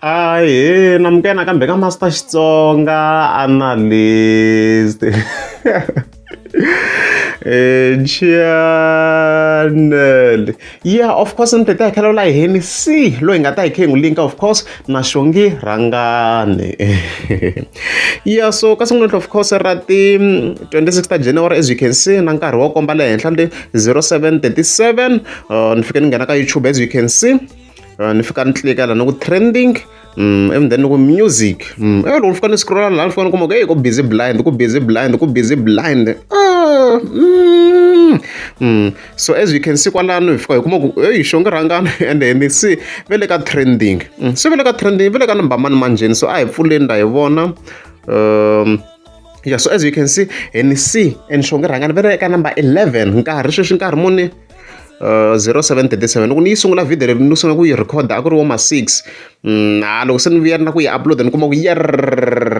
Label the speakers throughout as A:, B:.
A: Ahee namukela nakambe ka Master Xitsonga Analyst eh, channel yeah of course ni tete hakela la heni si loyi nga ta hi khe n'wi linka of course na xongi rhangani yeah so ka siku namuntlha of course ra ti 26 ta January as you can see na nkarhi wo komba le henhla le 0737 uh, ni fike ni nghena ka youtube as you can see uh, ni fika ni tlika lana ku trending Mm, and then ku music mm. eh loko ni fika ni scrolla laha ni fika ni kuma ku hey ku busy blind ku busy blind ku busy blind ah, mm, mm. so as you can see kwalano hi fika hi kuma ku eyi xo nge rhangani and ni se ve le ka trending mm. se ve le ka trending ve le ka number mani manjheni so a hi pfuleni la hi vona um ya so as you can see hi ni c and xonge rhanga ni vele eka number 11 nkarhi sweswi nkarhi muni Uh, 0737 loko ni yi sungula video leyi ni sungula ku yi recorda a ku ri wo ma 6 mm, ha loko se ni vuyerina ku yi uploada ni kuma ku yer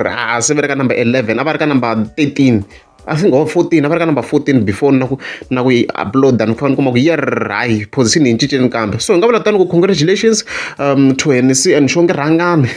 A: ha se ve ri ka number 11 a va ri ka number 13 I think or 14 a va ri ka number 14 before na ku na ku yi upload-a ni fanele ni kuma ku yer hayi position yi cinceni kambe so hi nga vula tani ku congratulations um to hennessy and xo nge rhangani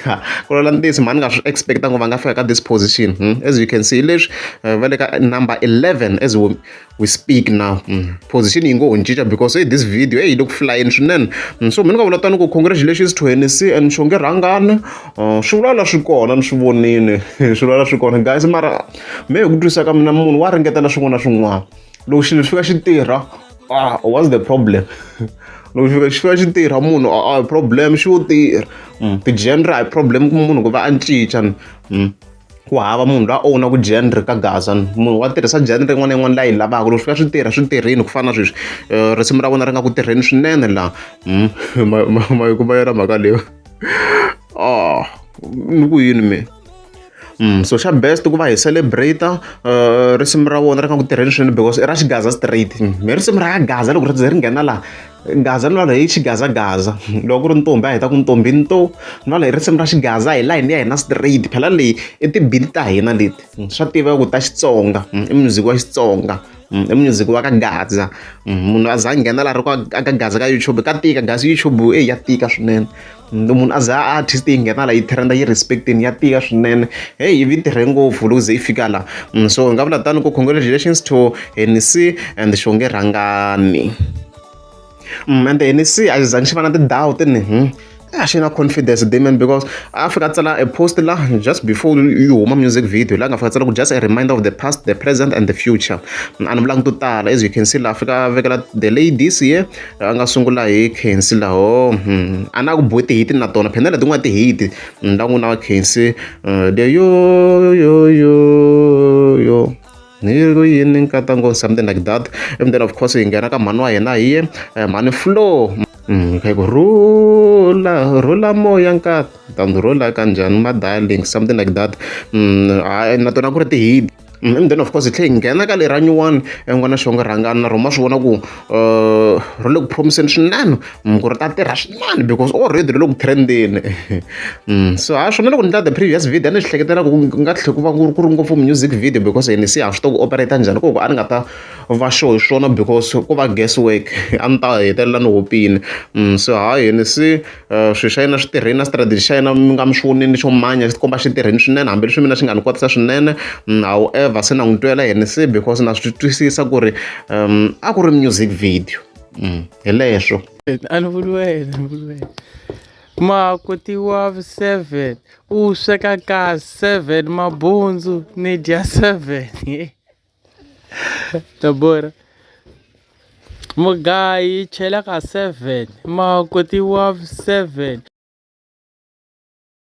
A: ku lola ntiyiso mhani nga swi expect-a ngo va nga fika ka this position hmm? as you can see leswi uh, va le ka number 11 as we, we speak now hmm? position yi ngo ho cinca because hey, this video hey, yi le ku flyeni swinene hmm? so mi ni nga vula tani ku congratulations to hennessy and xo nge rhangani uh, swi vulala swi kona ni swi vonile swi vulala swi kona guys mara me hi ku twisisa ka mina munhu wa ringeta na swin'wana na swin'wana loko xilo xi fika xi tirha ah what's the problem loko xi fika xi fika xi tirha munhu a ah, ah, problem xi wo tirha mm, ti-genre a hi problem ku munhu ku va a ncinca mm, ku hava munhu la owna ku genre ka gaza munhu wa tirhisa genre yin'wana na yin'wana la yi lavaka loko swi fika swi tirha swi tirhini ku fana na sweswi eh, risimu ra vona ri nga ku tirheni swinene laha mm, ma yi kuma yona mhaka leyo ah ni ku yini mina so xa best ku va hi celebrate risimu ra vona ri nga ku tirheni swinene because i ra xigaza straight mi risimu ra ya gaza loko ri ze ri nghena laha gaza ni lwala hi xigazagaza loko ku ri ntombi a hi ta ku ntombi nto ni lwala hi risimu ra xigaza hi layini ya hina straight phela leyi i tibili ta hina leti swa tiva ku ta xitsonga i music wa xitsonga i music wa ka gaza munhu a za a nghena laha ri ku a ka gaza ka youtube ka tika gaza youtube eyi ya tika swinene munhu a za a artist yi nghena la yi trenda yi respectini ya tiya swinene heyi yi vi tirhe ngopfu loko ze yi fika la mm, so hi nga vula tani ku congratulations to henc and xonge rhangani mm, and henc a xi zangi xi va na tindhawu tini hmm? a xi na confidence damian because a fika tsala a post la just before yi huma music video la nga fika tsala ku just a reminder of the past the present and the future a ni vulangi to tala as you can see la fika vekela the ladies here a nga sungula hi Khensi laho hmm, a na ku bohe tihiti na tona phenda leti n'wana tihiti hmm, la n'wina wa Khensi eh, leyo yo yo yo ni ri yini nkata ngo something like that and then of course hi nghena ka mhani wa hina hi ye eh, mhani flow hmm, kha ku rula rula moya nkata ta ndzi rula kanjhani ma darling something like that na tona ku ri tihiti Mm, and then of course hi tlhe hi nghena ka lera nyuwani en'wana xo nga rhangani na rona ma swi vona ku um ro le ku promiseni swinene mm, ku ri ta tirha swinene because already ri le ku trendeni mm, so ha swona loko ni tla the previous video a ni swi hleketela ku nga tlhe ku va ku ri ngopfu music video because ni se ha swi to ku operate njhani koko a ni nga ta va sure hi swona because ku va guess work a ni ta hetelela ni hopile so ha yini se swilo swa yena swi tirhile na strategy xa yena mi nga mi swi vonile xo manya xi tikomba xi tirhile swinene hambileswi mina xi nga ni kotisa swinene however se na n'wi twela yini se because na swi twisisa ku ri a ku ri music video hi leswo a ni vuli wena ni vuli wena makoti wa seven u sweka ka seven mabundzu ni dya seven Tabora mugayi chela ka seven makoti wa seven.